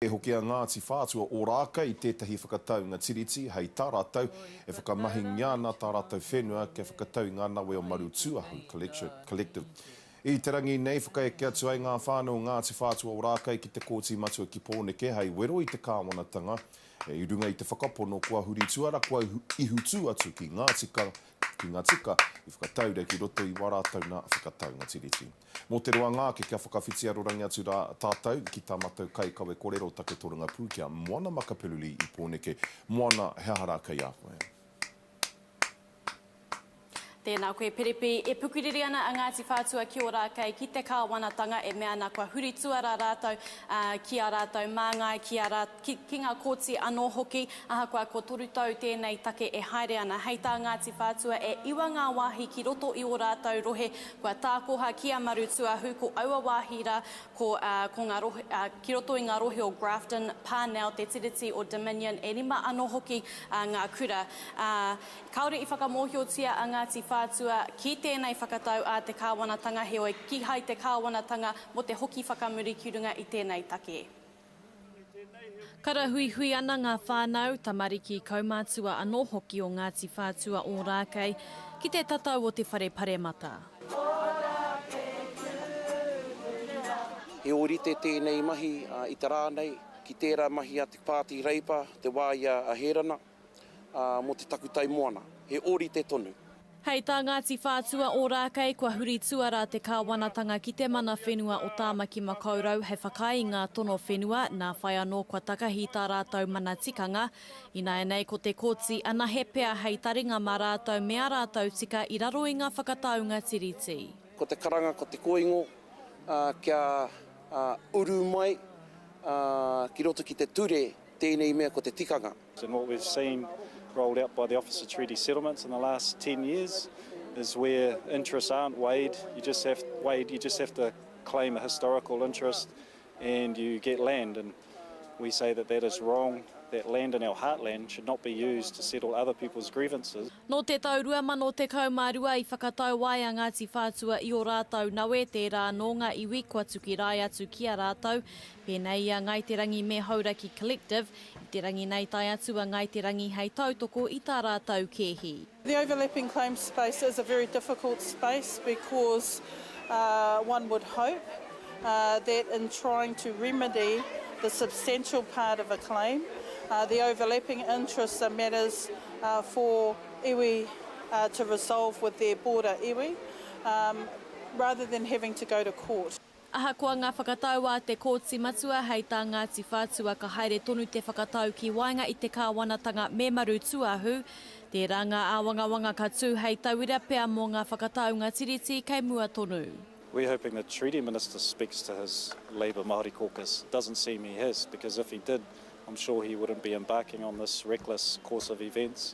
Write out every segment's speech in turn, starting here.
E hoki a Ngāti Whātua Ōrākei i tētahi whakataunga Tiriti hei tā rātou e whakamahingia ana tā rātou whenua kia whakatau i ngā nawe o Marutūahu, Collective. I te rangi nei, whakaeke atu ai ngā whānau o Ngāti Whātua Ōrākei ki te Kōti Matua ki Pōneke hei wero i te kāwanatanga i runga i te whakapono kua huritu ara kua ihutū atu ki ngā tika i whakataura ki roto i wā rātou nā whakataunga Tiriti. Mō te roanga ake kia whakawhiti arorangi atu rā tātou ki tā matou kai kawe korero take toranga pū kia Moana Makapeluli i Pōneke. Moana, he aha rā kei a koe? Tēnā koe Piripi. E pukuriri ana a Ngāti Whātua ki Ōrākei, ki te kāwanatanga e mea ana kua huri tuarā rātou ki ā rātou māngai, ki ā, ki ngā kōti anō hoki. Ahakoa kua toru tau tēnei take e haere ana, hei tā Ngāti Whātua e iwa ngā wāhi ki roto i ō rātou rohe Kua tākoha ki a Marutuahu ko aua wāhi rā, ko, ā, ko ngā rohe, ā, ki roto i ngā rohe o Grafton, Parnell, Te Tiriti o Dominion, e rima anō hoki, ā, ngā kura. Ā, kāore i whakamōhiotia a Ngāti Whātua ki tēnei whakatau ā te kāwanatanga, heoi, kīhai te kāwanatanga mō te hoki whakamuri ki runga i tēnei take. Karahuihui ana ngā whānau, tamariki, kaumātua anō hoki o Ngāti Whātua Ōrākei ki te tatau o te whare paremata. He ōrite tēnei mahi i te rā nei ki tērā mahi a Te Pāti Reipa te wā i a Hērana. mō te takutai moana, he ōrite tonu. Hei tā Ngāti Whātua Ōrākei kua huri tuarā te kāwanatanga ki te mana whenua o Tāmaki Makaurau hei whakaae i ngā tono whenua nā whai anō kua takahi tā rātou mana tikanga. Ināianei ko te Kōti anahe pea hei taringa mā rātou me ā rātou tika i raro i ngā whakataunga Tiriti. Ko te karanga, ko te kōingo kia uru mai ki roto ki te ture Tēnei mea ko te tikanga. And what we've seen rolled out by the Office of Treaty Settlements in the last ten years is where interests aren't weighed, you just have, weighed, you just have to claim a historical interest and you get land and we say that that is wrong, that land in our heartland should not be used to settle other people's grievances. Nō te tau 2012 i whakatau ai a Ngāti Whātua i ō rātau nawe tērā anō ngā iwi kua tukirae atu ki a rātau Pēnei i a Ngāi Te Rangi me Hauraki Collective, i te rangi nei tae atu a Ngāi Te Rangi hei tautoko i tā rātou kēhi. The overlapping claims space is a very difficult space because one would hope that in trying to remedy the substantial part of a claim, the overlapping interests are matters for iwi to resolve with their border iwi rather than having to go to court. Ahakoa ngā whakatau a te Kōti Matua hei tā Ngāti Whātua ka haere tonu te whakatau ki waenga i te kāwanatanga memarū tūāhu, tērā ngā āwangawanga ka tū hei tauira pea mō ngā whakataunga Tiriti kei mua tonu. We're hoping the Treaty Minister speaks to his Labour Māori caucus. It doesn't seem he has, because if he did, I'm sure he wouldn't be embarking on this reckless course of events.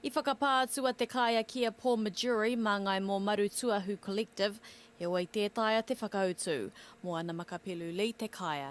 I whakapā atu a Te Kāea ki a Paul Majuri mā Ngāi Mōmaru Tuahu Collective, heoi tē taea te whakautu. Mō ana makapelu Lee Te Kāea.